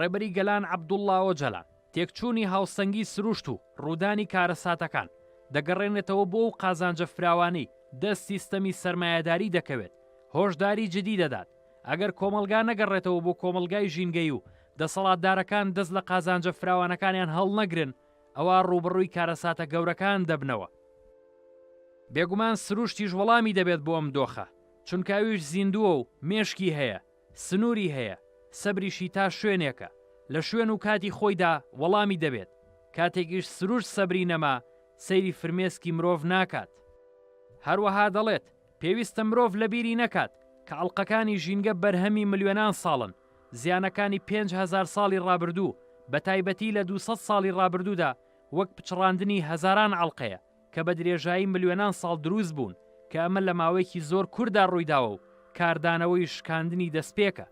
ڕێبەری گەلان عەبدوڵڵا ئۆجەلان تێکچوونی هاوسەنگی سروشت و ڕوودانی کارەساتەکان دەگەڕێنێتەوە بۆ و قازانجە فراوانی دە سیستەمی سەرمایەداری دەکەوێت هۆشداری جدی دەدات ئەگەر کۆمەڵگا نەگەڕێتەوە بۆ کۆمەڵگای ژینگەیی و دەسەڵاتدارەکان دەست لە قازانجە فراوانەکانیان هەڵنەگرن ئەوا ڕووبەڕووی کارەساتە گەورەکان دەبنەوە. بێگومان سروشتیش وەڵامی دەبێت بۆ ئەم دۆخە، چونکە ئەویش زیندووە و مێشکی هەیە، سنووری هەیە، سەبریشی تا شوێنێکە، لە شوێن و کاتی خۆیدا وەڵامی دەبێت، کاتێکیش سروشت سەبری نەما سەیری فرمێسکی مرۆڤ ناکات. هەروەها دەڵێت، پێویستە مرۆڤ لەبیری نەکات کە ئەڵقەکانی ژینگە بەرهەمی ملیۆنان ساڵن، زیانەکانی پێنج هەزار ساڵی ڕابردوو، بەتایبەتی لە دوو سەد ساڵی ڕابردوودا، وەک پچڕاندنی هەزاران ئەڵقەیە کە بە درێژایی ملیۆنان ساڵ دروست بوون، کە ئەمە لە ماوەیەکی زۆر کورتدا ڕوویداوە و کاردانەوەی شکاندنی دەستپێکە.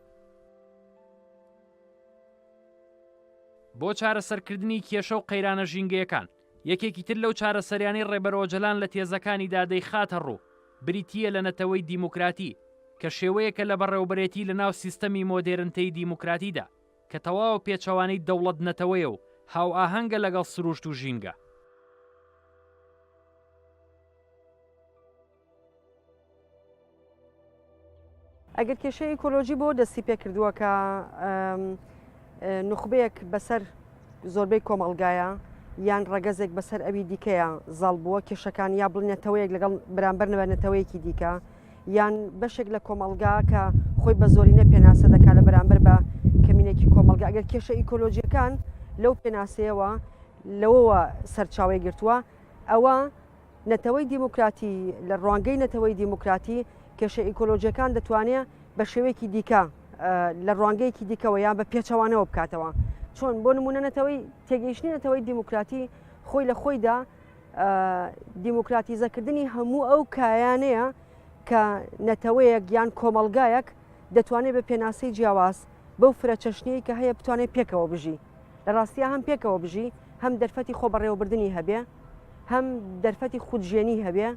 بۆ چارەسەرکردنی کێشە و قەیرانە ژینگەیەکان، یەکێکی تر لەو چارەسەریانەی ڕێبەر ئۆجەلان لە تێزەکانیدا دەیخاتە ڕوو، بریتییە لە نەتەوەی دیموکراتی، کە شێوەیەکە لە بەڕێوەبرێتی لەناو سیستەمی مۆدێرنتەی دیموکراتیدا، کە تەواو پێچەوانەی دەوڵەت-نەتەوەیە و هاوئاهەنگە لەگەڵ سرووشت و ژینگە. ئەگەر کێشەی ئیکۆلۆژی بۆ دەستی پێکردووە کە نخبەیەک بەسەر زۆربەی کۆمەڵگایە یان ڕەگەزێک بەسەر ئەوی دیکەیە زاڵ بووە کێشەکان یا بڵنێتەوەیەک لەگەڵ بەرامبەر نەبەنەتەوەیەکی دیکە یان بەشێک لە کۆمەلگا کە خۆی بە زۆرینە پێناسە دەکات لە بەرامبەر بە کەمینێکی کۆمەلگا ئەگەر کێشە ئیکۆلۆژیەکان لەو پێناسەیەوە لەوەوە سەرچاوی گرتووە ئەوە نەتەوەی دیموکراتی، لە ڕوانگەی نەتەوەی دیموکراتی کێشە ئیکۆلۆژیەکان دەتوانێت بە شێوەیەکی دیکە لە ڕوانگەیەکی دیکەوە یان بە پێچەوانەوە بکاتەوە چۆن بۆ نمونە نەتەوەی تێگەیشتنی نەتەوەی دیموکراتی خۆی لە خۆیدا دیموکراتیزەکردنی هەموو ئەو کایانەیە کە نەتەوەیەک یان کۆمەلگایەک دەتوانێت بە پێناسەی جیاواز بەو فرە چەشنەی کە هەیە بتوانێت پێکەوە بژی لە ڕاستیا هەم پێکەوە بژی، هەم دەرفەتی خۆبەڕێوەبردنی هەبێ، هەم دەرفەتی خودژێنی هەبێ،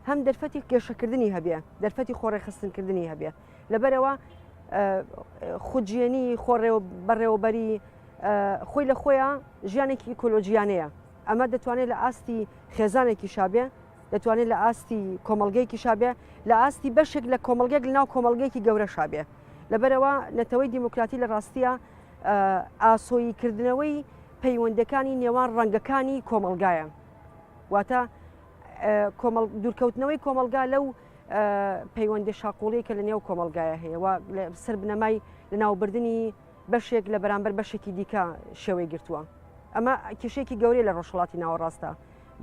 هەم دەرفەتی گەشەکردنی هەبێ، دەرفەتی خۆڕێخستنکردنی هەبێ. لەبەرەوە خودژێنی خۆڕێ بەڕێوەبەری خۆی لە خۆیان ژیانێکی ئیکۆلۆژیانەیە. ئەمە دەتوانێت لە ئاستی خێزانێکی شابێ، دەتوانێت لە ئاستی کۆمەلگەیەکی شابێ لە ئاستی بەشێک لە کۆمەلگەێک لەناو کۆمەلگەیەکی گەورە شابێ لەبەرەوە نەتەوەی دیموکراتی لە ڕاستیە ئاسۆیی کردنەوەی پەیوەندەکانی نێوان ڕەنگەکانی کۆمەلگایە واتە دوورکەوتنەوەی کۆمەلگا لەو پەیوەندی شاقۆڵی کە لە نێو کۆمەلگایە هەیە و سەر بنەمای لە ناوبردننی بەشێک لە بەرامبەر بەشێکی دیکە شێوەی گرتووە ئەمە کێشێکی گەورەی لە ڕۆژهڵاتی ناوەڕاستە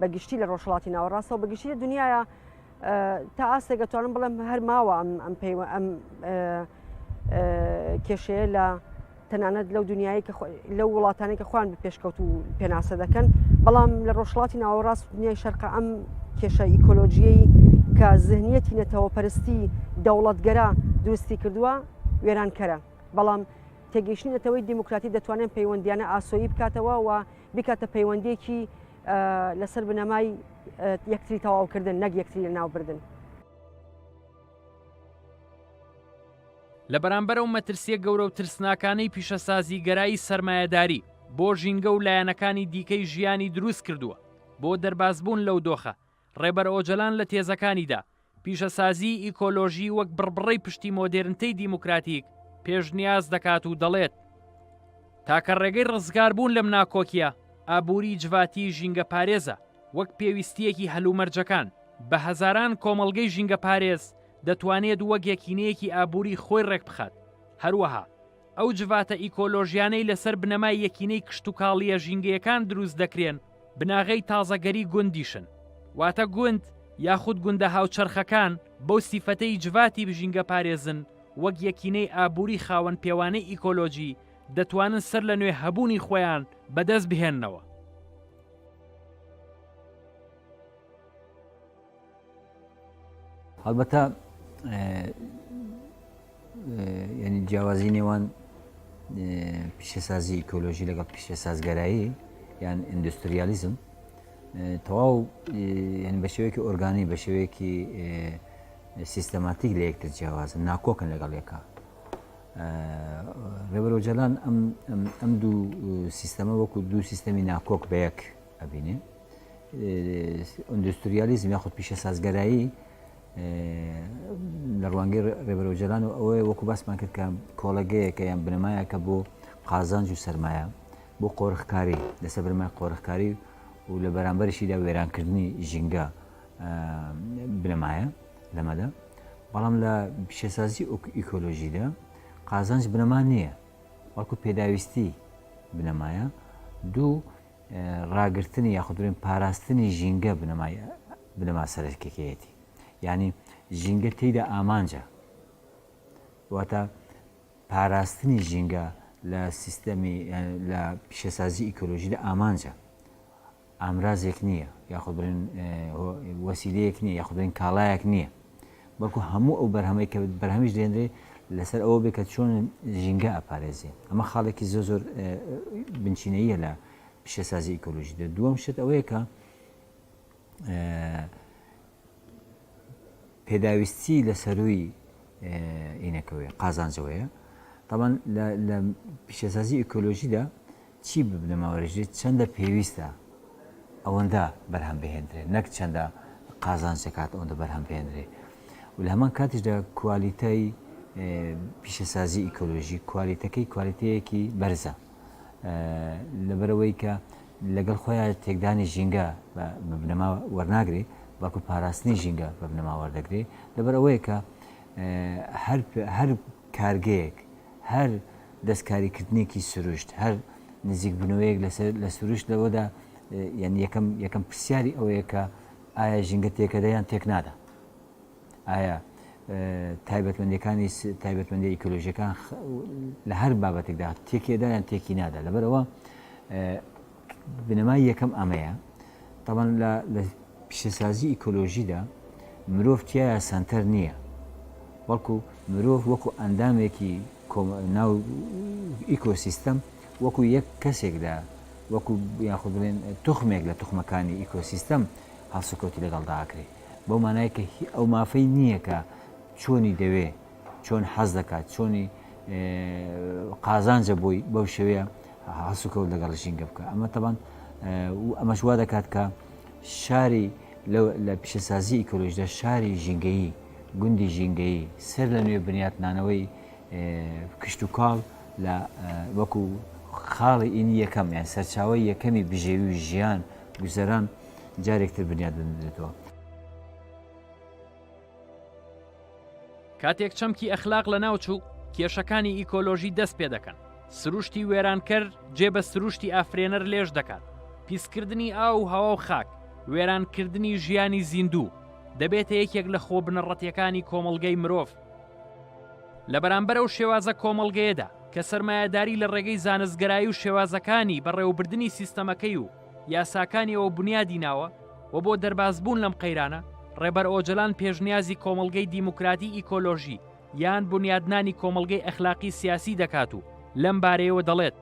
بەگشتی لە ڕۆژهڵاتی ناوەڕاستەوە بەگشتی دنیاە تا ئاستێک ئەتوانم بڵێم هەر ماوە ئەم ئەم پێی ئەم کێشەیە لە تەنانەت لەو دنیای کە لەو وڵاتانی کە خۆیان پێشکەوت و پێناسە دەکەن بەڵام لە ڕۆژڵاتی ناوەڕاست دنیای شەرقە ئەم کێشە ئیکۆلۆژیەی کە زهنیەتی نەتەوە پەرستی دەوڵەتگەرا دروستی کردووە وێرانکەرە بەڵام تێگەیشتنی نەتەوەی دیموکراتی دەتوانێت پەیوەندیانە ئاسۆیی بکاتەوە و بیکاتە پەیوەندیەکی لەسەر بنەمای یەکتری تەواوکردن نەک یەکتری لە ناوبردن. لە بەرامبەر ئەو مەترسیە گەورە و ترسناکانەی پیشەسازیگەرایی سەرمایەداری بۆ ژینگە و لایەنەکانی دیکەی ژیانی دروست کردووە، بۆ دەربازبوون لەو دۆخە، ڕێبەر ئۆجەلان لە تێزەکانیدا، پیشەسازیی ئیکۆلۆژی وەک بڕبڕەی پشتی مۆدێرنتەی دیموکراتیک پێشنیاز دەکات و دەڵێت، تاکە ڕێگەی ڕزگاربوون لەم ناکۆکییە ئابووری جڤاتی ژینگەپارێزە، وەک پێویستییەکی هەلومەرجەکان، بە هەزاران کۆمەڵگەی ژینگەپارێز دەتوانێت وەک یەکینەیەکی ئابووری خۆی ڕێکبخات، هەروەها ئەو جڤاتە ئیکۆلۆژیانەی لەسەر بنەمای یەکینەی کشتوکاڵییە ژینگەیەکان دروست دەکرێن بناغەی تازەگەری گوندیشن، واتە گوند یاخود گوندە هاوچەرخەکان بەو سیفەتەی جڤاتی ژینگەپارێزن وەک یەکینەی ئابووری خاوەن پێوانەی ئیکۆلۆژی دەتوانن سەر لە نوێ هەبوونی خۆیان بەدەست بهێننەوە. هەڵبەتە ینی جیاوازی نێوان پیشەسازی ئیکۆلۆژی لەگەڵ پیشە سازگەرایی یان ئیندوستریالیزم تەواو ینی بە شێوەیەکی ئۆرگانی بە شێوەیەکی سیستەماتیک لە یەکتر جیاوازن ناکۆکن لەگەڵ یەکە ڕێبەرۆجلان ئەم دوو سیستەمە وەکو دوو سیستەمی ناکۆک بە یەک ئەبینێ ئوندوستریالیزم یاخود پیشەسازگەرایی لە ڕوانگەی ڕێبەر ئۆجەلان و ئەوەیە وەکو باسمان کرد کە کۆڵەگەیەکە یان بنەمایەکە بۆ قازانج و سرمایە بۆ قۆرخکاری لەسە برمای قۆرخکاری و لە بەرامبەرشیدا وێرانکردنی ژینگە بنەمایە لەمەدا بەڵام لە پیشەسازی ئیکۆلۆژیدا قازانج بنەما نییە وەکو پێداویستی بنەمایە دوو ڕاگرتنی یاخود بڵێن پاراستنی ژینگە بنەمای بنەما سەرەکیەکەیەتی یعنی ژینگە تێیدا ئامانجە واتە پاراستنی ژینگە لە سیستەمی لە پیشەسازی ئیکۆلۆژیدا ئامانجە ئامرازێک نییە یاخود بڵێن وەسیلەیەک نییە یاخودێن کاڵایەک نییە بەڵکو هەموو ئەو بەرهەمەی کە بەرهەمیش دێنرێ لەسەر ئەوە بێ کە چۆن ژینگە ئەپارێزێ ئەمە خاڵێکی زۆر زۆر بنچینەیە لە پیشەسازی ئیکۆلۆژی دە دووەم شت ئەوەیە کە پێداویستی لە سەروی ئینەکەوەیە قازانجەوەیە تاوان لە پیشەسازی ئیکۆلۆژیدا چی بنەماورژێت چەندە پێویستە ئەوەندە بەرهەم بهێندرێت نەک چەندە قازانج دەکات ئەوەندە بەرهەم بهێندرێت و لە هەمان کاتیشدا کوالیتای پیشەسازی ئیکۆلۆژی کوالیتەکەی کوالیتەیەکی بەرزە لەبەرەوەی کە لەگەڵ خۆیان تێکدانی ژینگە بە بنەما وەرناگرێ بەڵکو پاراستنی ژینگە بە بنەما وەردەگرێ لەبەر ئەوەیە کە هەر کارگەیەک هەر دەستکاریکردنێکی سروشت، هەر نزیکبوونەوەیەک لە سروشت لەوەدا یانی یەکەم پرسیاری ئەوەیە کە ئایا ژینگە تێکەدە یان تێکنادا؟ ئایا تایبەتمەندیەکانی تایبەتمەندی ئیکۆلۆژیەکان لە هەر بابەتێکدا تێکێدا یان تێکینادا؟ لەبەرئەوە بنەمای یەکەم ئەمەیە، تابان لە لە پیشەسازی ئیکۆلۆژیدا مرۆڤ تیایا سەنتەر نییە، بەڵکو مرۆڤ وەکو ئەندامێکی کۆم ناو ئیکۆسیستەم وەکو یەک کەسێک دا وەکو یاخود بڵێن توخمێک لە توخمەکانی ئیکۆسیستەم هەڵسوکەوتی لەگەڵدا ئەکرێ بەو مانای کە هی ئەو مافەی نییە کە چۆنی دەوێ چۆن حەز دەکات، چۆنی قازانجە بۆی بەو شێوەیە هەڵسوکەوت لەگەڵ ژینگە بکە ئەمە تەبان ئەمەش وا دەکات کە شاری لە پیشەسازی ئیکۆلۆژدا شاری ژینگەیی گوندی ژینگەیی سەر لە نوێ بنیاتنانەوەی کشتتوکاڵ لە وەکو خاڵی ئینی یەکەم یان سەرچاوی یەکەمی بژێوی و ژیان گوزەران جارێکتر بنیاد بنرێتەوە. کاتێک چەمکی ئەخلاق لەناوچوو کێشەکانی ئیکۆلۆژی دەست پێ دەکەن سروشتی وێرانکەر جێ بە سروشتی ئافرێنەر لێش دەکات پیسکردنی ئاو و هەوا و خاک وێرانکردنی ژیانی زیندوو دەبێتە یەکێک لە خۆ بنەڕەتیەکانی کۆمەلگەی مرۆڤ لە بەرامبەر ئەو شێوازە کۆمەلگەیەدا کە سەرمایەداری لە ڕێگەی زانستگەرایی و شێوازەکانی بەڕێوەبردننی سیستەمەکەی و یاساکانیەوە بونیادی ناوە و بۆ دەربازبوون لەم قەیرانە ڕێبەر ئۆجەلان پێشنیازی کۆمەڵگەی دیموکراتی ئیکۆلۆژی یان بونیادنانی کۆمەڵگەی ئەخلاقی سیاسی دەکات و لەم بارەیەوە دەڵێت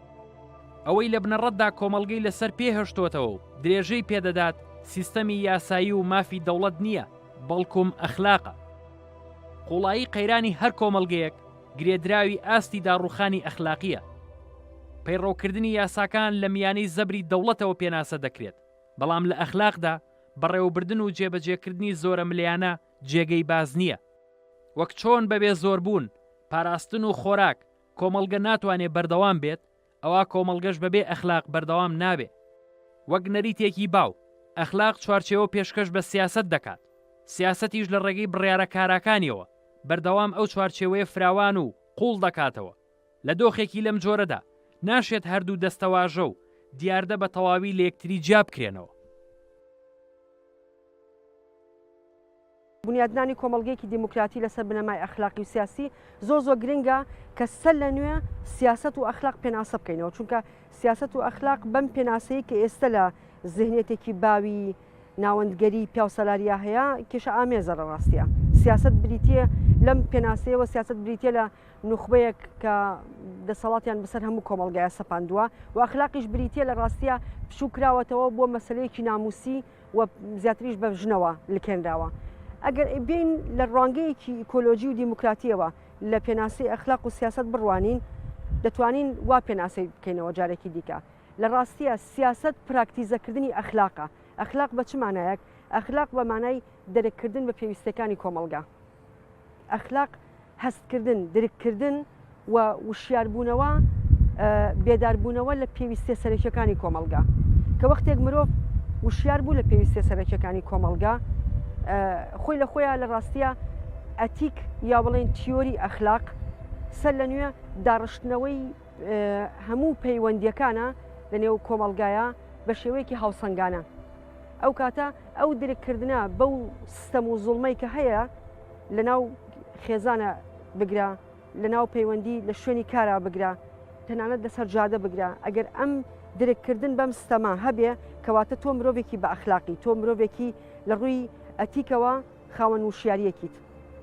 ئەوەی لە بنەڕەتدا کۆمەڵگەی لەسەر پێ هەشتوەتەوە و درێژەی پێدەدات سیستەمی یاسایی و مافی دەوڵەت نییە بەڵکوم ئەخلاقە قوڵایی قەیرانی هەر کۆمەڵگەیەک گرێدراوی ئاستی داڕووخانی ئەخلاقییە. پەیڕەوکردنی یاساکان لە میانەی زەبری دەوڵەتەوە پێناسە دەکرێت، بەڵام لە ئەخلاقدا بەڕێوەبردن و جێبەجێکردنی زۆرەملێیانە جێگەی باس نییە. وەک چۆن بەبێ زۆربوون، پاراستن و خۆراک کۆمەڵگە ناتوانێت بەردەوام بێت، ئەوا کۆمەڵگەش بەبێ ئەخلاق بەردەوام نابێ. وەک نەریتێکی باو، ئەخلاق چوارچێوە پێشکەش بە سیاسەت دەکات، سیاسەتیش لە ڕێگەی بڕیارە کاراکانیەوە بەردەوام ئەو چوارچێوەیە فراوان و قووڵ دەکاتەوە. لە دۆخێکی لەم جۆرەدا ناشێت هەردوو دەستەواژە و دیاردە بە تەواوی لە یەکتری جیا بکرێنەوە. بونیادنانی کۆمەڵگەیەکی دیموکراتی لەسەر بنەمای ئەخلاقی و سیاسی زۆر زۆر گرنگە کە سەر لە نوێ سیاست و ئەخلاق پێناسە بکەینەوە چونکە سیاست و ئەخلاق بەم پێناسەیە کە ئێستا لە زهنێتێکی باوی ناوەندگەری پیاوسەلاریا هەیە کێشە ئامێزە لە ڕاستە سیاست بریتە لەم پێناسەیەوە سیاست بریتە لە نوخبەیەک کە دەسەڵاتیان بەسەر هەموو کۆمەلگای سەپاندووە و ئەخلاقیش بریتە لە ڕاستە پشوو کراوەتەوە بۆ مەسلەیەکی ناموسی و زیاتریش بە ژنەوە لکێنراوە. ئەگەر بین لە ڕوانگەیەکی ئیکۆلۆژی و دیموکراتیەوە لە پێناسی ئەخلاق و سیاست بڕوانین دەتوانین وا پێناسەی بکەینەوە جارێکی دیکە لە ڕاستیە سیاست پراکتیزەکردنی ئەخلاقە ئەخلاق بە چ مانایەک ئەخلاق بە مانای دەرککردن بە پێویستەکانی کۆمەڵگا ئەخلاق هەستکردن، درککردن و وشیاربوونەوە، بێداربوونەوە لە پێویستیە سەرەکیەکانی کۆمەڵگا، کە وەختێک مرۆڤ وشیار بوو لە پێویستیە سەرەکیەکانی کۆمەڵگا خۆی لە خۆیان لە ڕاستیە ئەتیک یا بڵێن تیۆری ئەخلاق سەر لە نوێ داڕشتنەوەی هەموو پەیوەندیەکانە لە نێو کۆمەڵگایە بە شێوەیەکی هاوسەنگانە. ئەو کاتە ئەو درککردە بەو سیستەم و زوڵمەی کە هەیە لەناو خێزانە بگرە لەناو پەیوەندی لە شوێنی کارا بگرە تەنانەت لەسەر جادە بگرە ئەگەر ئەم درککردن بەم ستەما هەبێ کەواتە تۆ مرۆڤێکی بە ئەخلاقی تۆ مرۆڤێکی لە ڕووی ئەتیکەوە خاوەن وشیاریەکیت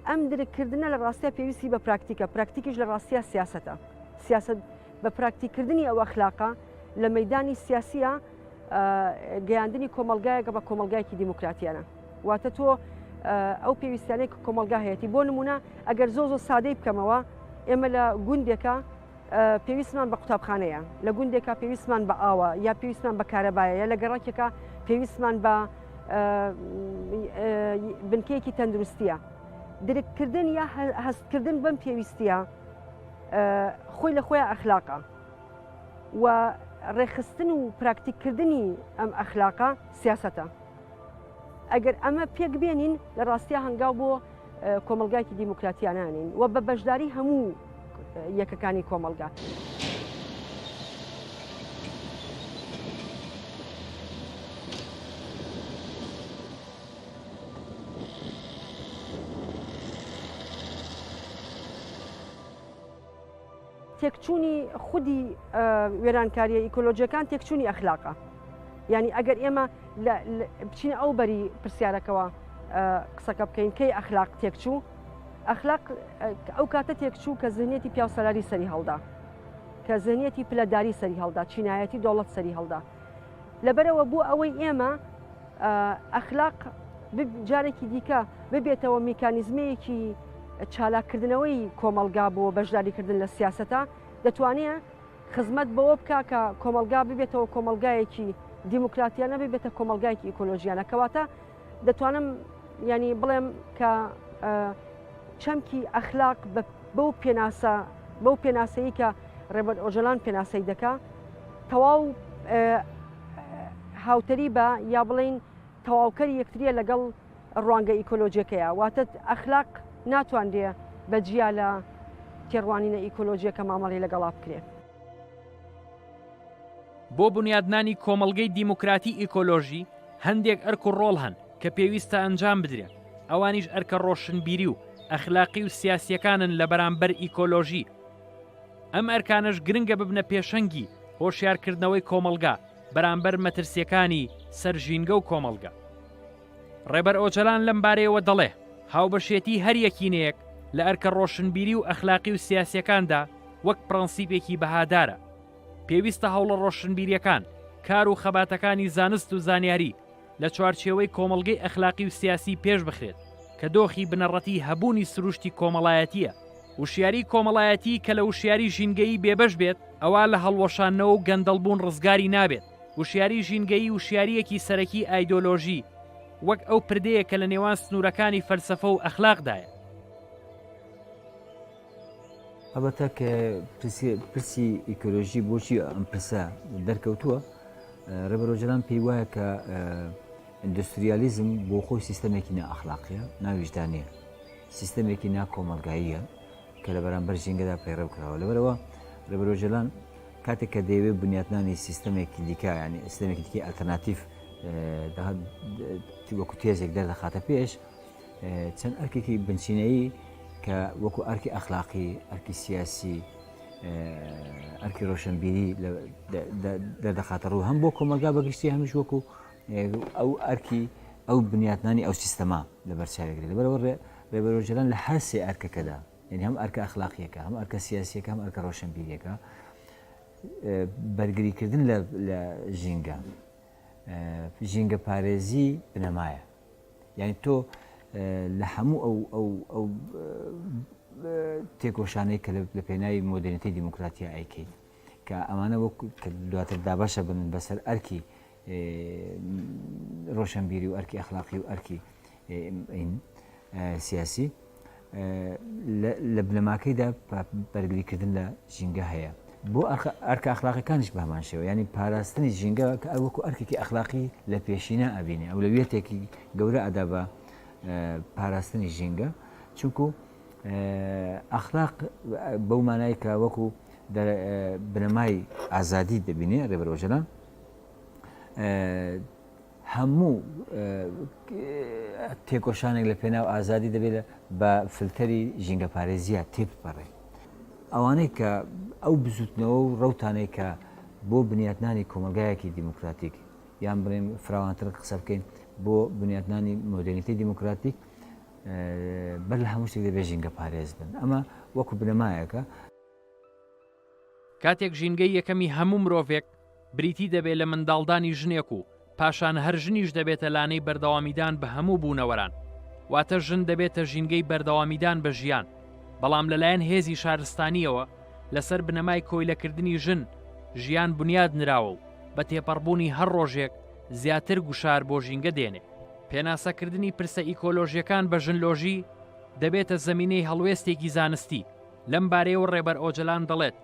ئەم درککردە لە ڕاستە پێویستی بە پراکتیکە پراکتیکیش لە ڕاستە سیاستە سیاست بە پراکتیکردنی ئەو ئەخلاقە لە مەدانی سیاسیە گەیاندنی کۆمەلگایەکە بە کۆمەلگایکی دیموکراتیانە واتە تۆ ئەو پێویستانێک کۆمەلگا هەیەی بۆ نمونە ئەگەر زۆ زۆ سادەی بکەمەوە ئێمە لە گوندێکە پێویستمان بە قوتابخانەیە لە گوندێکە پێویستمان بە ئاوە یا پێویستمان بە کارەبایە لە گەڕکێکە پێویستمان بە بنکەیەکی تەندروستیە درککردن یا هەستکردن بەم پێویستە خۆی لە خۆیان ئەخلاقە و ڕێکخستن و پراکتیککردنی ئەم ئەخلاقە سیاستە ئەگەر ئەمە پێک بێنین لە ڕاستیا هەنگاو بۆ کۆمەلگایکی دیموکراتیانانین و بە بەشداری هەموو یەکەکانی کۆمەلگا. تێکچوونی خودی وێرانکارییە ئیکۆلۆژیەکان تێکچوونی ئەخلاقە یعنی ئەگەر ئێمە بچینە ئەو بەری پرسیارەکەەوە قسەکە بکەین کەی ئەخلاق تێکچوو ئەخلاق ئەو کاتە تێکچوو کە زنیەتی پیاوسەلاری سەری هەڵدا کە زنیەتی پلەداری سەری هەڵدا چینایەتی دەوڵەت سەری هەڵدا لەبەرەوە بۆ ئەوەی ئێمە ئەخلاق جارێکی دیکە ببێتەوە میکانیزمەیەکی چالاکردنەوەی کۆمەلگا بۆ بەشداریکردن لە سیاستە دەتوانێت خزمەت بەوە بکە کە کۆمەلگا ببێتەوە کۆمەلگایەکی دیموکراتیانە ببێتە کۆمەلگایکی ئیکۆلۆژیانە کەواتە دەتوانم ینی بڵێم کە چەمکی ئەخلاق بەو پێناسە بەو پێناسەیە کە ڕێبەر ئۆجلان پێناسەی دەکا تەواو هاوتەری بە یا بڵین تەواوکەری یەکتریە لەگەڵ ڕوانگە ئیکۆلۆژیەکەیە واتە ئەخلاق ناتواندێ بە جیا لە تێڕوانینە ئیکۆلۆژیەکە مامەڵی لەگەڵا بکرێت. بۆ بنیادنانی کۆمەڵگەی دیموکراتی ئیکۆلۆژی هەندێک ئەرک و ڕۆڵ هەن کە پێویستە ئەنجام بدرێن ئەوانیش ئەرکە ڕۆشنبیری و ئەخلاقی و سیاسیەکانن لە بەرامبەر ئیکۆلۆژی ئەم ئەرکانەش گرنگە ببنە پێشەنگی هۆشیارکردنەوەی کۆمەڵگا بەرامبەر مەترسیەکانی سەر ژینگە و کۆمەڵگە. ڕێبەر ئۆجەلان لەم بارەیەوە دەڵێ، هاوبەشێتی هەر یەکینەیەک لە ئەرکە ڕۆشنبیری و ئەخلاقی و سیاسیەکاندا وەک پڕەنسیپێکی بەهادارە. پێویستە هەوڵە ڕۆشنبیریەکان، کار و خەباتەکانی زانست و زانیاری لە چوارچێوەی کۆمەڵگەی ئەخلاقی و سیاسی پێش بخرێت کە دۆخی بنەڕەتی هەبوونی سروشتی کۆمەڵایەتیە. وشیاری کۆمەڵایەتی کە لە وشیاری ژینگەیی بێبەش بێت ئەوا لە هەڵوەشاندنەوە و گەندەڵبوون ڕزگاری نابێت. وشیاریی ژینگەیی وشیارییەکی سەرەکی ئایدۆلۆژی، وەک ئەو پردێیە کە لە نێوان سنوورەکانی فەلسەفە و ئەخلاقدایە. هەڵبەتە کە پرسی ئیکۆلۆژی بۆچی ئەم پرسە دەرکەوتووە ڕێبەر ئۆجەلان پێی وایە کە ئیندوستریالیزم بۆ خۆی سیستەمێکی نائەخلاقیە ناویژدانەیە سیستەمێکی ناکۆمەلگاییە کە لە بەرامبەر ژینگەدا پەیڕەو کراوە لەبەرەوە ڕێبەر ئۆجەلان کاتێک کە دەیەوێت بنیاتنانی سیستەمێکی دیکە ینی ئسلمێکی دیکە ئەلتەرناتیف وەکو تێزێک دەردەخاتە پێش چەند ئەرکێکی بنچینەیی کە وەکو ئەرکی ئەخلاقی ئەرکی سیاسی ئەرکی ڕۆشنبیری دەردەخاتە ڕوو هەم بۆ کۆمەلگا بەگشتی هەمیش وەکو ئەو ئەرکی ئەو بنیاتنانی ئەو سیستەمە لەبەرچاوی گرێت. لەبەر ئەوە ڕێبەر ئۆجەلان لە هەر سێ ئەرکەکەدا، یانی هەم ئەرکە ئەخلاقییەکە، هەم ئەرکە سیاسییەکە، هەم ئەرکە ڕۆشنبیرییەکە، بەرگریکردن لە ژینگە، ژینگەپارێزی بنەمایە. یانی تۆ لە هەموو ئەو تێکۆشانەی کە لە پێناوی مۆدێرنیتەی دیموکراتیا ئەیکەیت، کە ئەمانە وەک دواتر دابەشە بن بەسەر ئەرکی ڕۆشەنبیری و ئەرکی ئەخلاقی و ئەرکی سیاسی لە بنەماکەیدا بەرگریکردن لە ژینگە هەیە بۆ ئەرکە ئەخلاقەکانش بەمان شێوە ینی پاراستنی ژینگە کە ئەوەکو ئەرکێکی ئەخلاقی لە پێشینە ئەبینێ ئەو لە وێتێکی گەورە ئەدا بە پاراستنی ژینگە چونکو ئەخلاق بەو مانای کە وەکو بنەمای ئازادی دەبینێ ڕێبەرۆژەلان هەموو تێکۆشانێک لە پێناو ئازادی دەبێت بە فلتەری ژینگەپارێزیە تێپەڕێ ئەوانەی کە ئەو بزوتنەوە و ڕوتانەی کە بۆ بنیاتنانی کۆمەلگایەکی دیموکراتیک یان بڵێن فراوانتر قسە بکەین بۆ بنیاتنانی مۆدرنیتی دیموکراتیک بەر لە هەموو شتێک دەبێت ژینگە پارێز بن ئەمە وەکو بنەمایەکە کاتێک ژینگەی یەکەمی هەموو مرۆڤێک بریتی دەبێت لە منداڵدانی ژنێک و پاشان هەر ژنیش دەبێتە لانەی بەردەوامیدان بە هەموو بوونەوەران واتە ژن دەبێتە ژینگەی بەردەوامیدان بە ژیان بەڵام لەلایەن هێزی شارستانیەوە لەسەر بنەمای کۆیلەکردنی ژن ژیان بنیاد نراوە و بە تێپەڕبوونی هەر ڕۆژێک زیاتر گوشار بۆ ژینگە دێنێ پێناسەکردنی پرسە ئیکۆلۆژیەکان بە ژنلۆژی دەبێتە زەمینەی هەڵوێستێکی زانستی لەم بارەیەوە ڕێبەر ئۆجەلان دەڵێت،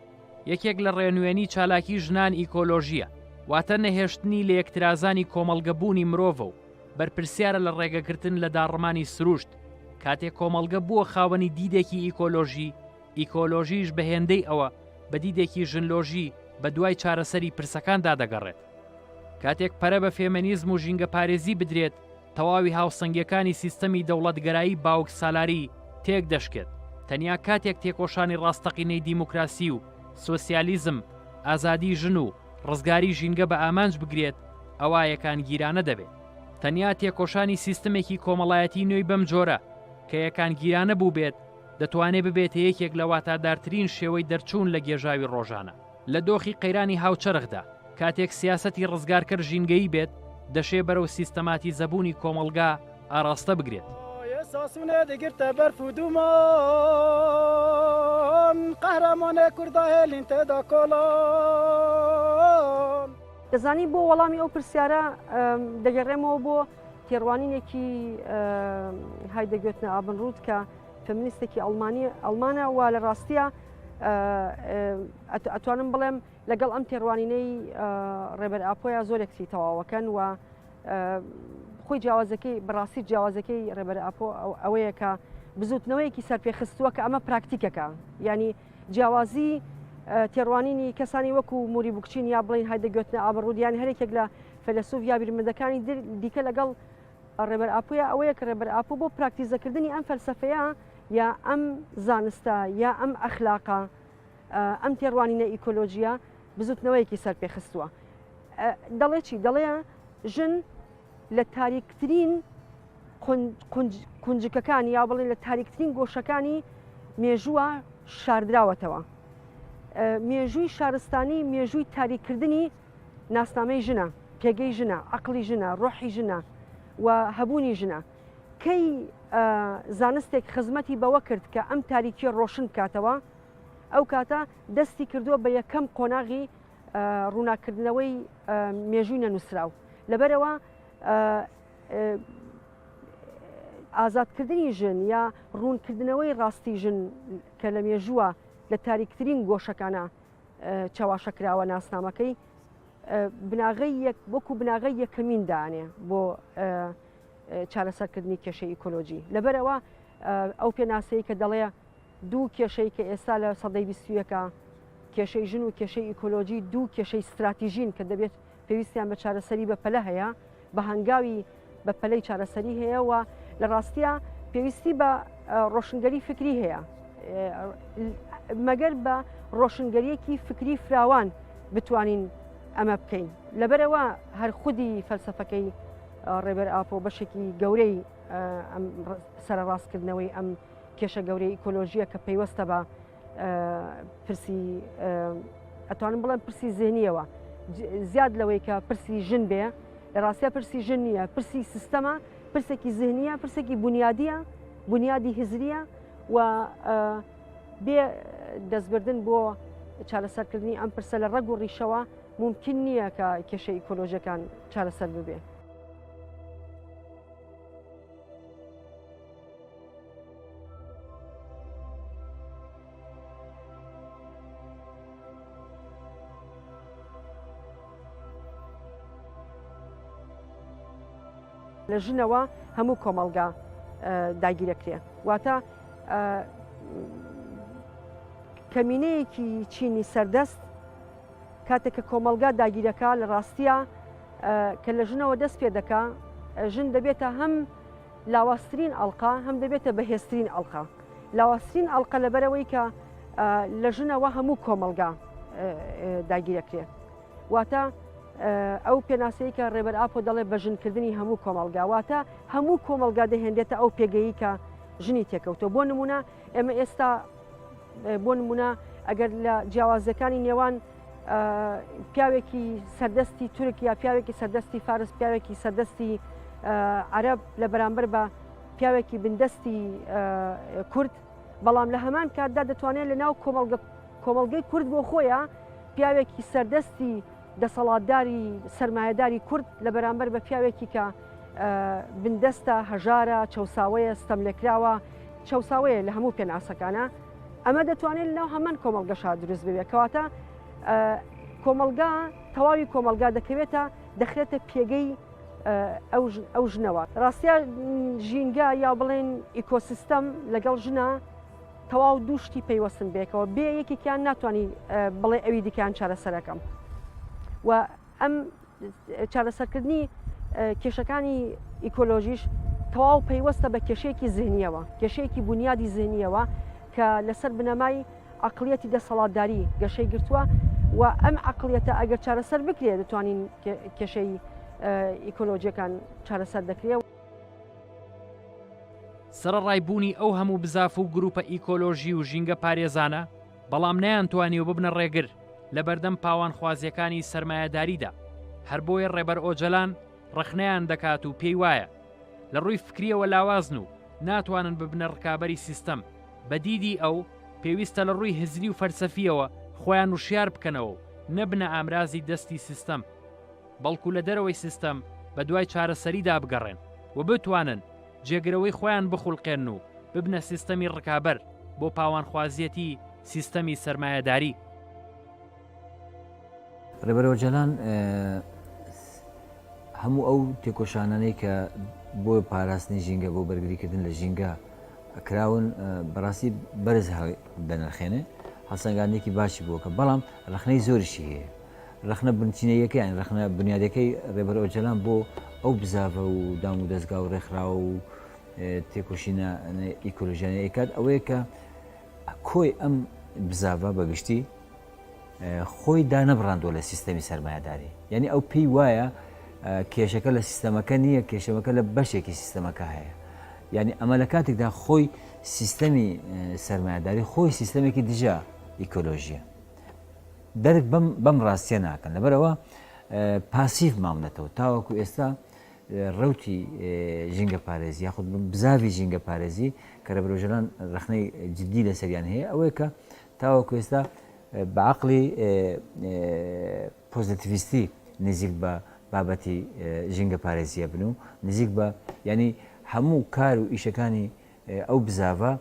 یەکێک لە ڕێنوێنی چالاکی ژنان ئیکۆلۆژییە، واتە نەهێشتنی لەیەکترازانی کۆمەڵگە بوونی مرۆڤە و بەرپرسیارە لە ڕێگەگرتن لە داڕمانی سروشت، کاتێ کۆمەڵگە بووە خاوەنی دیدێکی ئیکۆلۆژی، ئیکۆلۆژیش بە هێندەی ئەوە بە دیدێکی ژنلۆژی بە دوای چارەسەری پرسەکاندا دەگەڕێت. کاتێک پەرە بە فێمێنیزم و ژینگەپارێزی بدرێت، تەواوی هاوسەنگیەکانی سیستەمی دەوڵەتگەرایی باوک سالاری تێک دەشکێت، تەنیا کاتێک تێکۆشانی ڕاستەقینەی دیموکراسی و سۆسیالیزم، ئازادی ژن و ڕزگاری ژینگە بە ئامانج بگرێت ئەوا یەکانگیرانە دەبێت. تەنیا تێکۆشانی سیستمێکی کۆمەڵایەتی نوێی بەم جۆرە کە یەکانگیرانە بووبێت دەتوانێت ببێتە یەکێک لە واتادارترین شێوەی دەرچوون لە گێژاوی ڕۆژانە. لە دۆخی قەیرانی هاوچەرخدا، کاتێک سیاسەتی ڕزگارکەر ژینگەیی بێت، دەشێ بەرەو سیستەماتیزەبوونی کۆمەڵگا ئاراستە بگرێت. دەزانی بۆ وەڵامی ئەو پرسیارە دەگەڕێمەوە بۆ تێڕوانینێکی هایدەگۆتنە ئابنرود کە فەمینیستێکی ئەڵمانیە ئەڵمانە و لە ڕاستیە، ئەتوانم بڵێم لەگەڵ ئەم تێڕوانینەی ڕێبەر ئاپۆیا زۆرێکسی تەواوەکەن و خۆی جیاوازەکەی بەڕاستی جیاوازەکەی ڕێبەر ئاپۆ ئەوەیە کە بزوتنەوەیەکی سەرپێخستووە کە ئەمە پراکتیکەکە ینی جیاوازی تێڕوانینی کەسانی وەکو موری بکچین یا بڵین هایدە گوتنە ئابڕودیان هەرێکێک لە فەلسوف یا بیرمەدەکانی دیکە لەگەڵ ڕێبەر ئاپۆیە ئەوەیە کە ڕێبەر ئاپۆ بۆ پراکتیزەکردنی ئەم فەلسەفەیە یا ئەم زانستە یا ئەم ئەخلاقە ئەم تێڕوانینە ئیکۆلۆژیە بزوتنەوەیەکی سەر پێخستووە دەڵێ چی دەڵێ ژن لە تاریکترین قنجکەکانی یا بڵێن لە تاریکترین گۆشەکانی مێژووە شاردراوەتەوە مێژووی شارستانی مێژووی تاریکردنی ناسنامەی ژنە، پێگەی ژنە، عەقڵی ژنە، ڕۆحی ژنە و هەبوونی ژنە. کەی زانستێک خزمەتی بەوە کرد کە ئەم تاریکیە ڕۆشن بکاتەوە، ئەو کاتە دەستی کردووە بە یەکەم قۆناغی ڕووناکردنەوەی مێژووی نەنووسراو. لەبەرەوە ئازادکردنی ژن یا ڕوونکردنەوەی ڕاستی ژن کە لە مێژووە لە تاریکترین گۆشەکانە چەواشەکراوە ناسنامەکەی بناغی یەک وەکو بناغی یەکەمین دانێ بۆ چارەسەرکردنی کێشەی ئیکۆلۆژی لەبەرەوە ئەو پێناسەی کە دەڵێ دوو کێشەی کە ئێستا لە سەدەی بیستویەکە کێشەی ژن و کێشەی ئیکۆلۆژی دوو کێشەی استراتیژین کە دەبێت پێویستیان بە چارەسەری بەپەلە هەیە بە هەنگاوی بە پەلەی چارەسەری هەیە و لە ڕاستیە پێویستی بە ڕۆشنگەری فکری هەیە مەگەر بە ڕۆشنگەریەکی فکری فراوان بتوانین ئەمە بکەین لەبەرەوە هەر خودی فەلسفەکەی ڕێبەر ئاپۆ بەشێکی گەورەی سەرڕاستکردنەوەی ئەم کێشە گەورەی ئیکۆلۆژیە کە پەیوەستە بە پرسی ئەتوانم بڵێم پرسی زێنیەوە زیاد لەوەی کە پرسی ژن بێ لە ڕاستە پرسی ژن نییە پرسی سیستەمە پرسێکی زهنیە پرسێکی بنیادیە بنیادی هزریە و بێ دەستبردن بۆ چارەسەرکردنی ئەم پرسە لە ڕەگ و ڕیشەوە ممکن نییە کە کێشە ئیکۆلۆژەکان چارەسەر ببێ. لە ژنەوە هەموو کۆمەلگا داگیرەکرێ واتە کەمینەیەکی چینی سەردەست کاتێک کە کۆمەلگا داگیرەکە لە ڕاستە کە لە ژنەوە دەست پێ دەکا ژن دەبێتە هەم لاوازترین ئەڵقە هەم دەبێتە بەهێزترین ئەڵقە لاوازترین ئەڵقە لەبەرەوەی کە لە ژنەوە هەموو کۆمەلگا داگیرەکرێ واتە ئەو پێناسەی کە ڕێبەر ئاپۆ دەڵێ بە ژنکردنی هەموو کۆمەلگا واتە هەموو کۆمەلگا دەهێنێتە ئەو پێگەیی کە ژنی تێکەوتۆ بۆ نمونە ئێمە ئێستا بۆ نمونە ئەگەر لە جیاوازەکانی نێوان پیاوێکی سەردەستی تورک یا پیاوێکی سەردەستی فارس پیاوێکی سەردەستی عەرب لە بەرامبەر بە پیاوێکی بندەستی کورد بەڵام لە هەمان کاتدا دەتوانێت لە ناو کۆمەڵگە کۆمەڵگەی کورد بۆ خۆیە پیاوێکی سەردەستی دەسەڵاتداری سرمایهداری کورد لە بەرامبەر بە پیاوێکی کە بندەستە هەژارە چەساوەیە ستەم لێکراوە چەساوەیە لە هەموو پێناسەکانە ئەمە دەتوانێت لەناو هەمان کۆمەڵگەشا دروست ببێت کەواتە کۆمەلگا تەواوی کۆمەلگا دەکەوێتە دەخرێتە پێگەی ئەو ژنەوە ڕاستە ژینگە یا بڵێن ئیکۆسیستەم لەگەڵ ژنە تەواو دووشتی پەیوەستن بێکەوە بێ یەکێکیان ناتوانانی بڵێ ئەوی دیکان چارەسەرەکەم و ئەم چارەسەرکردنی کێشەکانی ئیکۆلۆژیش تەواو پەیوەستە بە کێشەیەکی زیهنیەوە کێشەیەکی بنیادی زیهنیەوە کە لەسەر بنەمای عقلیەتی دەسەڵاتداری گەشەی گرتووە و ئەم عقلیەتە ئەگەر چارەسەر بکرێت دەتوانین کێشەی ئیکۆلۆژیەکان چارەسەر دەکرێت. سەرەڕای بوونی ئەو هەموو بزاف و گروپە ئیکۆلۆژی و ژینگە پارێزانە، بەڵام نەیانتوانیوە ببنە ڕێگر لەبەردەم پاوانخوازییەکانی سەرمایەداریدا، هەر بۆیە ڕێبەر ئۆجەلان ڕەخنەیان دەکات و پێی وایە لە ڕووی فکرییەوە لاوازن و ناتوانن ببنە ڕکابەری سیستەم، بە دیدی ئەو، پێویستە لە ڕووی هزری و فەلسەفییەوە خۆیان وشیار بکەنەوە و نەبنە ئامرازی دەستی سیستەم، بەڵکو لە دەرەوەی سیستەم بەدوای چارەسەریدا بگەڕێن و بتوانن جێگرەوەی خۆیان بخولقێن و ببنە سیستەمی ڕکابەر بۆ پاوانخوازیەتی سیستەمی سەرمایەداری. ڕێبەر ئۆجالان هەموو ئەو تێکۆشانانەی کە بۆ پاراستنی ژینگە بۆ بەرگریکردن لە ژینگە کراون بەڕاستی بەرز دەنرخێنێ هەڵسەنگاندێکی باشی بووکە بەڵام ڕخنەی زۆریشی هەیە ڕەخنە بنچینەییەکەیان، ڕەخنە بونیادەکەی ڕێبەر ئۆجەلان بۆ ئەو بزاڤە و دام و دەزگا و ڕێکخراو و تێکۆشینە ئیکۆلۆژیانە ئەیکات ئەوەیە کە کۆی ئەم بزاڤە بە گشتی خۆی دانەبڕاندوە لە سیستەمی سەرمایهداری یعنی ئەو پێی وایە کێشەکە لە سیستەمەکە نییە کێشەمەکە لە بەشێکی سیستەمەکە هەیە یعنی ئەمە لە کاتێکدا خۆی سیستەمی سەرمایهداری خۆی سیستەمێکی دژە ئیکۆلۆژیە درک بەم بەم ڕاستیە ناکەن لەبەرەوە پاسیڤ ماونەتەوە تاوەکو ئێستا ڕوتی ژینگە پارێزی یاخود بزاوی ژینگە پارێزی کە لە برۆژەران ڕخنەی جددی لەسەریان هەیە ئەوەیە کە تاوەکو ئێستا بەعقلی پۆزتیویستی نزیک بە بابەتی ژینگە پارێزیە بن و نزیک بە ینی هەموو کار و ئیشەکانی ئەو بزاڤە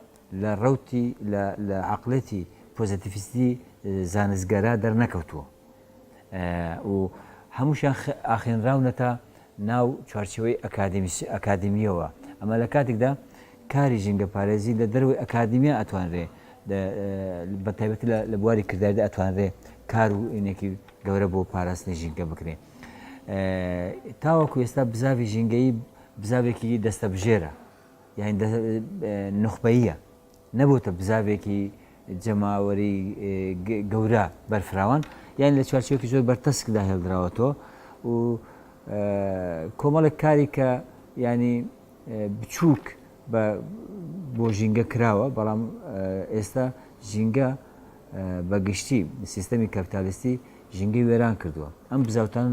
لە ڕەوتی لە لە عەقڵێتی پۆزەتیفیستی زانستگەرا دەرنەکەوتووە و هەمووشیان ئاخێنراونەتە ناو چوارچێوەی ئەکادیمیسی ئەکادیمییەوە ئەمە لە کاتێکدا کاری ژینگە پارێزی لە دەروی ئەکادیمیا ئەتوانرێ بە تایبەتی لە بواری کرداردا ئەتوانرێ کار و ئینێکی گەورە بۆ پاراستنی ژینگە بکرێ تاوەکو ئێستا بزاوی ژینگەی بزاوێکی دەستە بژێرە یانی دە نوخبەییە نەبۆتە بزاڤێکی جەماوەری گەورە بەرفراوان یان لە چوارچێکی زۆر بەرتەسکدا هێڵدراوەتەوە و کۆمەڵێک کاری کە ینی بچووک بۆ ژینگە کراوە بەڵام ئێستا ژینگە بە گشتی سیستەمی کەپتالیستی ژینگەی وێران کردووە ئەم بزاوتان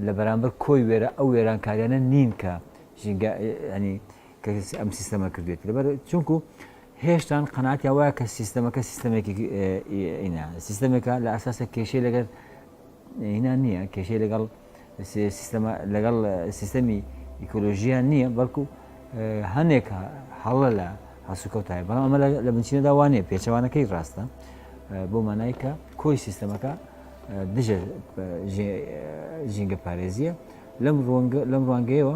لە بەرامبەر کۆی وێرە ئەو وێرانکاریانە نین کە ژینگە ینی کە ئەم سیستەمە کردێت لەبەر چونکو هێشتان قەناتیا وایە کە سیستەمەکە سیستەمێکی ئینا سیستەمێکە لە ئاساسە کێشەی لەگەر هینا نییە کێشەی لەگەڵ سیستەمە لەگەڵ سیستەمی ئیکۆلۆژیان نییە بەڵکو هەنێک هەڵە لە هەسوکەوتای بەڵام ئەمە لە بنچینەدا وانە پێچەوانەکەی ڕاستە بۆ مانای کە کۆی سیستەمەکە دژە ژینگە پارێزیە لەم ڕوانگەیەوە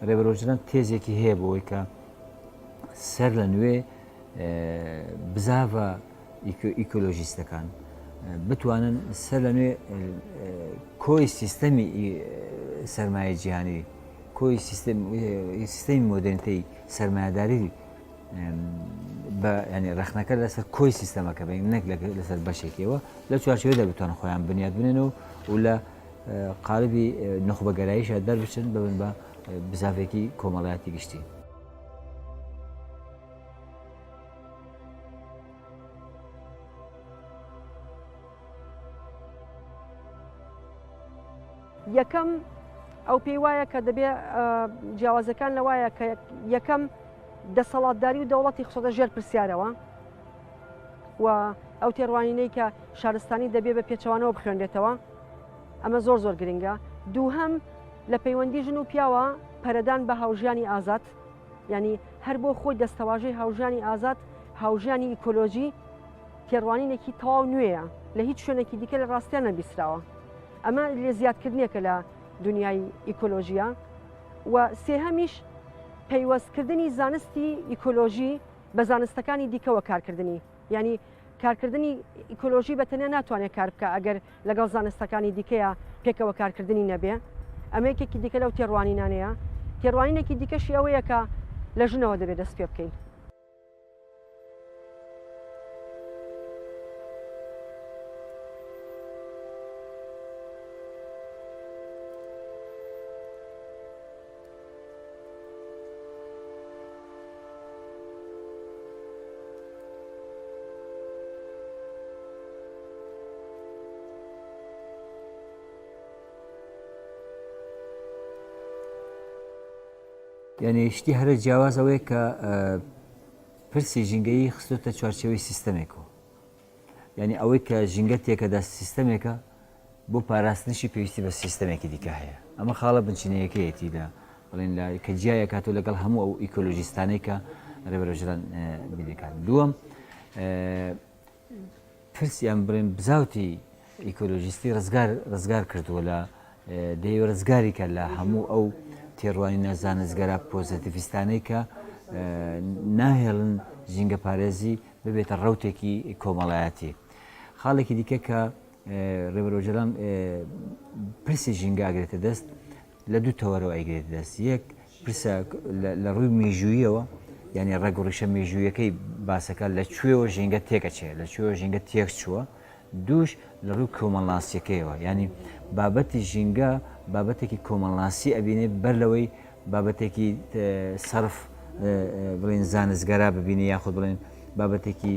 ڕێبەر ئۆجلان تێزێکی هەیە بۆەوەی کە سەر لە نوێ بزاڤە ئیکۆلۆژیستەکان بتوانن سەر لە نوێ کۆی سیستەمی سرمایە جیهانی کۆی سیستەمی مۆدرنتەی سرمایهداری بە ینی ڕخنەکە لەسەر کۆی سیستەمەکە بین نەک لەسەر بەشێکەوە لە چوارچەوەدا بتوان خۆیان بنیاد بنێن و و لە قالبی نوخبەگەراییشە دەربچن ببن بە بزاڤێکی کۆمەڵایەتی گشتی. یەکەم ئەو پێی وایە کە دەبێ جیاوازەکان لەوایە کە یەکەم دەسەڵاتداری و دەوڵەتی خسۆدە ژێر پرسیارەوە و ئەو تێڕوانینەی کە شارستانی دەبێ بە پێچوانەوە بخوێنرێتەوە ئەمە زۆر زۆر گرنگە دووهەم لە پەیوەندی ژن و پیاوە پەرەدان بە هاوژیانی ئازاد ینی هەر بۆ خۆی دەستەواژەی هاوژانی ئازاد هاوژانی ئیکۆلۆژی تێڕوانینێکی تەواو نوێیە لە هیچ شوێنێکی دیکە لە ڕاستیان نەبیسراوە ئەمە لێ زیادکردنێکە لە دنیای ئیکۆلۆژیە و سێهەمیش پەیوەستکردنی زانستی ئیکۆلۆژی بە زانستەکانی دیکەوە کارکردنی یانی کارکردنی ئیکۆلۆژی بە تەنیا ناتوانێت کار بکە ئەگەر لەگەڵ زانستەکانی دیکەیە پێکەوە کارکردنی نەبێ ئەمەیەکێکی دیکە لەو تێڕوانینانەیە تێڕوانینێکی دیکەشی ئەوەیەکە لە ژنەوە دەبێت دەست پێ بکەین یعنی شتی هەرە جیاواز ئەوەیە کە پرسی ژینگەیی خستۆتە چوارچەوەی سیستەمێکەوە یعنی ئەوەی کە ژینگە تێکەدا سیستەمێکە بۆ پاراستنیشی پێویستی بە سیستەمێکی دیکە هەیە. ئەمە خاڵە بنچینەیەکەیەتی لە بڵێن لە کە جیای ئەکاتەوە لەگەڵ هەموو ئەو ئیکۆلۆژیستانەی کە ڕێبەر ئۆجەلان بینی ئەکات. دووەم پرس یان بڵێن بزاوتی ئیکۆلۆژیستی ڕزگار ڕزگار کردووە لە دەیوە ڕزگاری کە لە هەموو ئەو تێڕوانینە زانستگەرا پۆزەتیڤیستانەی کە ناهێڵن ژینگە پارێزی ببێتە ڕوتێکی کۆمەڵایەتی. خاڵێکی دیکە کە ڕێبەر ئۆجەلان پرسی ژینگە ئەگرێتە دەست لە دوو تەوەرەوە ئەیگرێتە دەست یەک پرسە لە ڕووی میژوویەوە یعنی ڕێگ و ڕیشە مێژوویەکەی باسەکە لە کوێوە ژینگە تێکەچێ لە کوێوە ژینگە تێک چووە دوش لە ڕوو کۆمەڵناسیەکەیەوە ینی بابەتی ژینگە بابەتێکی کۆمەڵناسی ئەبینێ بەر لەوەی بابەتێکی سرف بڵین زانستگەرا ببینی یاخود بڵێن بابەتێکی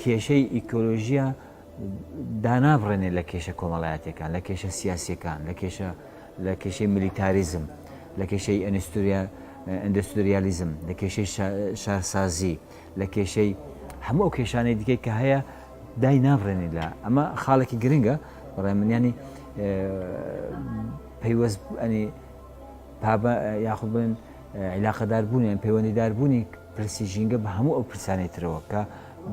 کێشەی ئیکۆلۆژیە دانابڕێنێ لە کێشە کۆمەڵایەتەکان لە کێشە سیاسەکان لە کێشە لە کێشەی ملیتاریزم لە کێشەی ئەنستوریا ئەندستریالیزم لە کێشەی شارسازی لە کێشەی هەموو ئەو کێشانەی دیکەی کە هەیە دای نابڕێنی لە ئەمە خاڵێکی گرنگە بەڕێ منیانی پەیوەست ئەنی پابە یاخود بن عیلاقەدار بوونیان پەیوەندیدار بوونی پرسی ژینگە بە هەموو ئەو پرسانەی ترەوە کە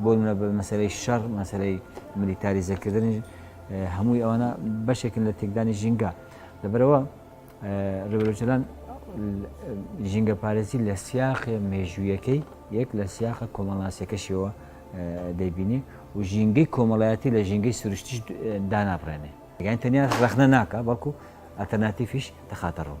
بۆ نمونە بە مەسەلەی شەڕ مەسەلەی ملیتاریزەکردن هەمووی ئەوانە بەشێکن لە تێکدانی ژینگە لەبەرەوە ڕێبەرۆجلان ژینگە پارێزی لە سیاخێ مێژوویەکەی یەک لە سیاخە کۆمەڵناسیەکەشیەوە دەیبینی و ژینگەی کۆمەڵایەتی لە ژینگەی سروشتیش دانابڕێنێ یان تەنیا ڕخنە ناکە بەڵکو ئەتەناتیفیش دەخاتە ڕوو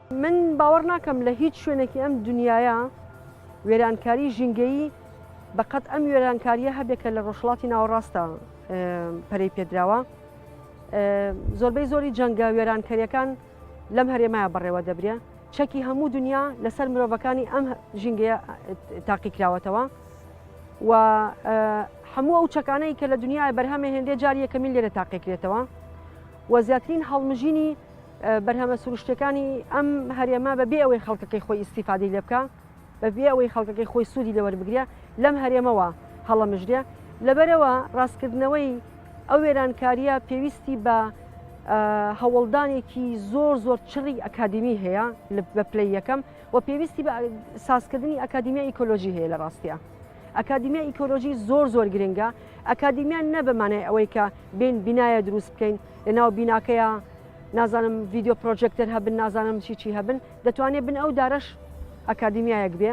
من باوەڕ ناکەم لە هیچ شوێنێکی ئەم دنیایە وێرانکاری ژینگەیی بە قەت ئەم وێرانکاریە هەبێت کە لە ڕۆژهڵاتی ناوەڕاستە پەرەی پێدراوە زۆربەی زۆری جەنگە وێرانکەریەکان لەم هەرێمایە بەڕێوە دەبرێ چەکی هەموو دنیا لەسەر مرۆڤەکانی ئەم ژینگەیە تاقی کراوەتەوە و هەموو ئەو چەکانەی کە لە دنیای بەرهەمە هێندێ جاریەکەمی لێرە تاقیکرێتەوە و زیاترین هەڵمژینی بەرهەمە سروشتیەکانی ئەم هەرێمە بە بێ ئەوەی خەڵکەکەی خۆی ئیسیفادی لێ بکە بە بێ ئەوەی خەڵکەکەی خۆی سوودی لەوەربگرە لەم هەرێمەوە هەڵەمژرێ لەبەرەوە ڕاستکردنەوەی ئەو وێرانکاریە پێویستی بە هەوڵدانێکی زۆر زۆر چڕی ئەکادمی هەیە بە پلی یەکەم و پێویستی بە سازکردنی ئەکادیمیا ئیکۆلۆژی هەیە لە ڕاستە. ئەکادیمیا ئیکۆلۆژی زۆر زۆر گرنگە ئەکادیمیان نەبمانای ئەوەی کە بین بینایە دروست بکەین لە ناو بیناکەیە نازانم ڤیددیو پرۆژێکتەر هەبن نازانم چی چی هەبن دەتوانێت بن ئەو دارش ئەکادیمیایەک بێ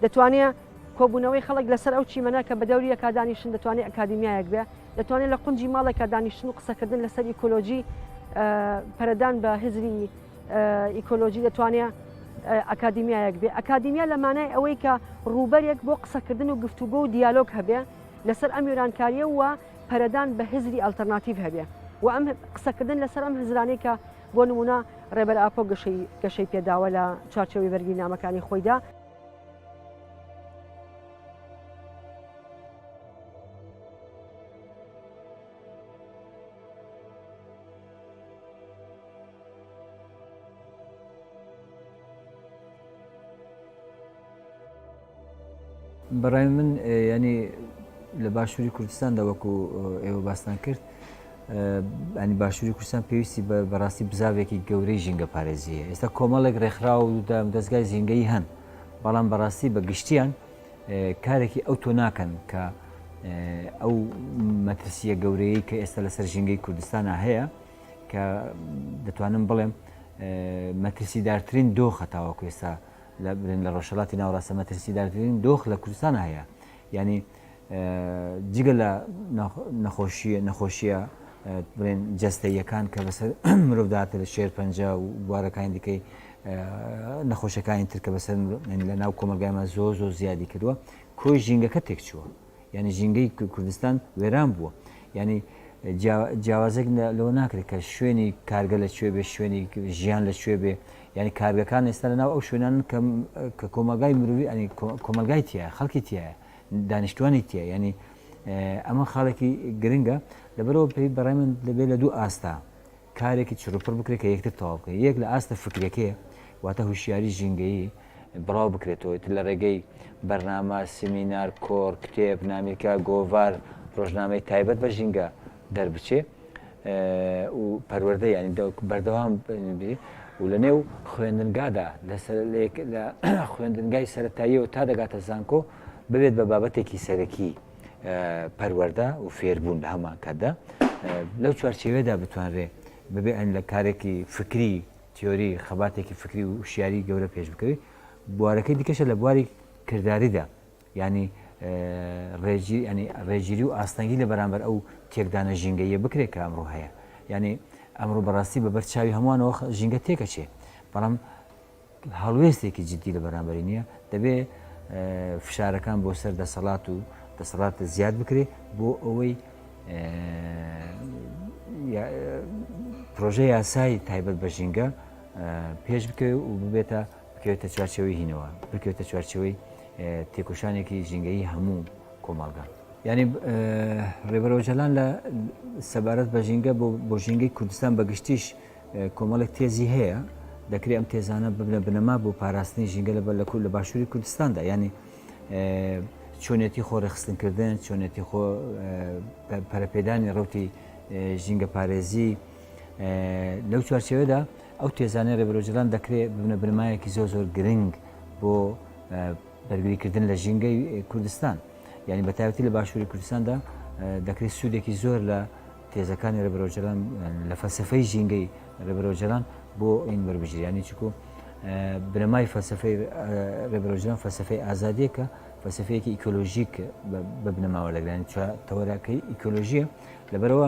دەتوانێت کۆبوونەوەی خەڵک لەسەر ئەو چیمەە کە بە دەوری ئەکادانیشن دەتوانێت ئەکادیمیایەک بێ دەتوانێت لە قنجی ماڵێکا دانیشتن و قسەکردن لەسەر ئیکۆلۆژی پەرەدان بە هزری ئیکۆلۆژی دەتوانێت ئەکادیمیایەک بێ ئەکادیمیا لە مانای ئەوەی کە ڕووبەرێک بۆ قسەکردن و گفتوگۆ و دیالۆگ هەبێ لەسەر ئەم یۆرانکاریە و پەرەدان بە هزری ئەلتەرناتیڤ هەبێ و ئەم قسەکردن لەسەر ئەم هزرانەی کە بۆ نمونە ڕێبەر ئاپۆ گەشەی گەشەی پێداوە لە چارچەوەی بەرگی نامەکانی خۆیدا بەڕای من ینی لە باشووری کوردستاندا وەکو ئێوە باستان کرد ئەنی باشووری کوردستان پێویستی بە بەڕاستی بزاوێکی گەورەی ژینگە پارێزیە ئێستا کۆمەڵێک ڕێکخرا و دەستگای زینگەی هەن بەڵام بەڕاستی بە گشتیان کارێکی ئەو تۆ ناکەن کە ئەو مەترسیە گەورەیە کە ئێستا لەسەر ژینگەی کوردستانە هەیە کە دەتوانم بڵێم مەترسیدارترین دۆخە تاوەکو ئێستا لە برێن لە ڕۆژهەڵاتی ناوەڕاستە مەترسیدارترین دۆخ لە کوردستان هەیە ینی جگە لە نەخۆشی نەخۆشیە بڵێن جەستەیەکان کە بەسەر مرۆڤداتە لە شێر پەنج و بوارەکانی دیکەی نەخۆشەکانی ترکە بەسەر لە ناو کۆمەلگایمە زۆر زۆر زیادی کردووە کۆی ژینگەکە تێکچووە یانی ژینگەی کوردستان وێران بووە یانی جیاوازێک لەوە ناکرێت کە شوێنی کارگە لە کوێ بێ شوێنی ژیان لە کوێ بێ یعنی کارگەکان ئێستا لە ناو ئەو شوێنان کە کۆمەلگای مروی ئەنی کۆمەلگای تایە خەڵکی تایە دانیشتوانی تایە ینی ئەمە خاڵێکی گرنگە لەبەرەوە پێی بەڕێ من دەبێت لە دوو ئاستا کارێکی چڕوپڕ بکرێت کە یەکتر تەواو بکەن، یەک لە ئاستە فکریەکەی واتە هوشیاری ژینگەیی بڵاو بکرێتەوە، ئیتر لە ڕێگەی بەرنامە، سیمینار، کۆڕ، کتێب، نامیلکە، گۆڤار، ڕۆژنامەی تایبەت بە ژینگە دەربچێ و پەروەردە یانی بەردەوام بێ و لە نێو خوێندنگادا لە خوێندنگای سەرەتاییەوە تا دەگاتە زانکۆ ببێت بە بابەتێکی سەرەکی. پەروەردە و فێربوون لە هەمان کاتدا لەو چوارچێوێدا بتوانرێ ببێ ئەن لە کارێکی فکری تیۆری خەباتێکی فکری و شیاری گەورە پێش بکەوی بوارەکەی دیکەشە لە بواری کردداریدا ینی ڕێژی ئەنی ڕێژیری و ئاستەنگی لە بەرامبەر ئەو تێکدانە ژینگەیە بکرێت کە ئەمڕۆ هەیە ینی ئەمڕۆ بەڕاستی بەبەر چاوی هەمووانەوە ژینگە تێکەچێ بەڵام هەڵوێستێکی جدی لە بەرامبەری نییە، دەبێ فشارەکان بۆ سەر دەسەڵات و دەسەڵات زیاد بکرێ بۆ ئەوەی پرۆژە یاسایی تایبەت بە ژینگە پێش بکەوێت و ببێتە بکەوێتە چوارچەوەی هینەوە بکەوێتە چوارچەوەی تێکۆشانێکی ژینگەی هەموو کۆمەڵگە ینی ڕێبەرۆژەلان لە سەبارەت بە ژینگە بۆ ژینگەی کوردستان بەگشتیش کۆمەڵێک تێزی هەیە دەکرێت ئەم تێزانە ببنە بنەما بۆ پاراستنی ژینگە لەبەر لە کورد لە باشووری کوردستاندا ینی چۆنێتی خۆڕێخستنکردن چۆنێتی خۆ پەرپێدانی ڕوتی ژینگە پارێزی لەو چوارچەوەدا ئەو تێزانانی ڕێبرۆژران دەکرێت ببنە بنمایەکی زۆر زۆر گرنگ بۆ بەرگریکردن لە ژینگەی کوردستان یعنی بەتاوتی لە باشووری کوردستاندا دەکرێت سوودێکی زۆر لە تێزەکانی ڕێبەر ئۆجەلان لە فەلسەفەی ژینگەی ڕێبەر ئۆجەلان بۆ ئین وەربگیرێ یانی چکۆ بنەمای فەلسەفەی ڕێبەر ئۆجەلان فەلسەفەی ئازادیەکە فەلسەفەیەکی ئیکۆلۆژیک بە بنەماوە دەگرانی چوار تەوەراکەی ئیکۆلۆژیە لەبەرەوە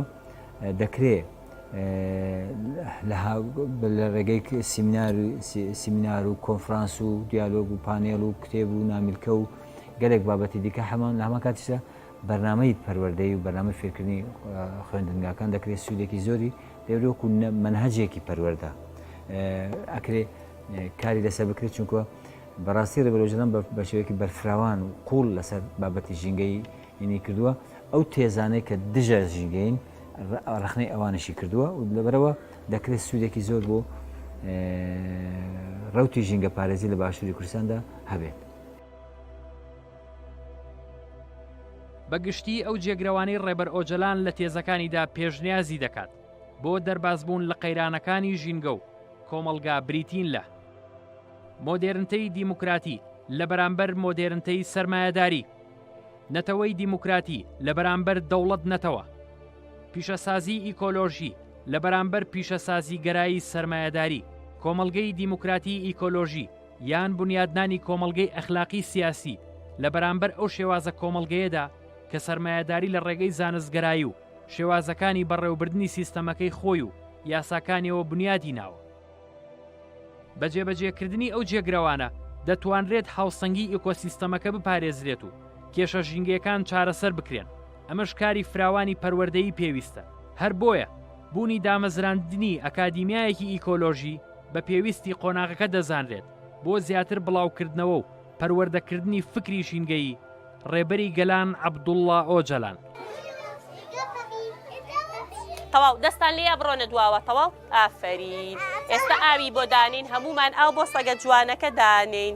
دەکرێ لە ڕێگەی سیمینار و کۆنفرانس و دیالۆگ و پانێڵ و کتێب و نامیلکە و گەلێک بابەتی دیکە هەمان لە هەمان کاتیشدا بەرنامەی پەروەردەی و بەرنامەی فێرکردنی خوێندنگاکان دەکرێت سوودێکی زۆری لێورێ وەکو مەنهەجێکی پەروەەردە ئەکرێ کاری لەسەر بکرێت چونکە بەڕاستی ڕێبەرۆژەدان بە شێوەیەکی بەرفراوان و قوڵ لەسەر بابەتی ژینگەی هینی کردووە ئەو تێزانەی کە دژە ژینگەین ڕخنەی ئەوانشی کردووە و لەبەرەوە دەکرێت سوودێکی زۆر بۆ ڕوتی ژینگە پارێزی لە باشووری کوردستاندا هەبێت. بە گشتی ئەو جێگرەوانەی ڕێبەر ئۆجەلان لە تێزەکانیدا پێشنیازی دەکات بۆ دەربازبوون لە قەیرانەکانی ژینگە و کۆمەڵگا بریتین لە مۆدێرنتەی دیموکراتی لە بەرامبەر مۆدێرنتەی سرمایهداری نەتەوەی دیموکراتی لە بەرامبەر دەوڵەت نەتەوە پیشەسازی ئیکۆلۆژی لە بەرامبەر پیشەسازی گەرایی سرمایهداری کۆمەلگەی دیموکراتی ئیکۆلۆژی یان بونیادنانی کۆمەڵگەی ئەخلاقی سیاسی لە بەرامبەر ئەو شێوازە کۆمەڵگەیەدا کە سەرمایەداری لە ڕێگەی زانستگەرایی و شێوازەکانی بەڕێوەبردنی سیستەمەکەی خۆی و یاساکانیەوە بونیادی ناوە. بە جێبەجێکردنی ئەو جێگرەوانە دەتوانرێت هاوسەنگی ئیکۆسیستەمەکە بپارێزرێت و کێشە ژینگەیەکان چارەسەر بکرێن، ئەمەش کاری فراوانی پەروەردەیی پێویستە، هەر بۆیە بوونی دامەزراندنی ئەکادیمیایەکی ئیکۆلۆژی، بە پێویستی قۆناغەکە دەزانرێت بۆ زیاتر بڵاوکردنەوە و پەروەردەکردنی فکری ژینگەیی، ڕێبەری گەلان عەبدوڵڵا ئۆجەلان. تەواو دەستان لێیە بڕۆنە دواوە تەواو ئافەرین ئێستا ئاوی بۆ دانین هەمومان ئاو بۆ سەگە جوانەکە دانین.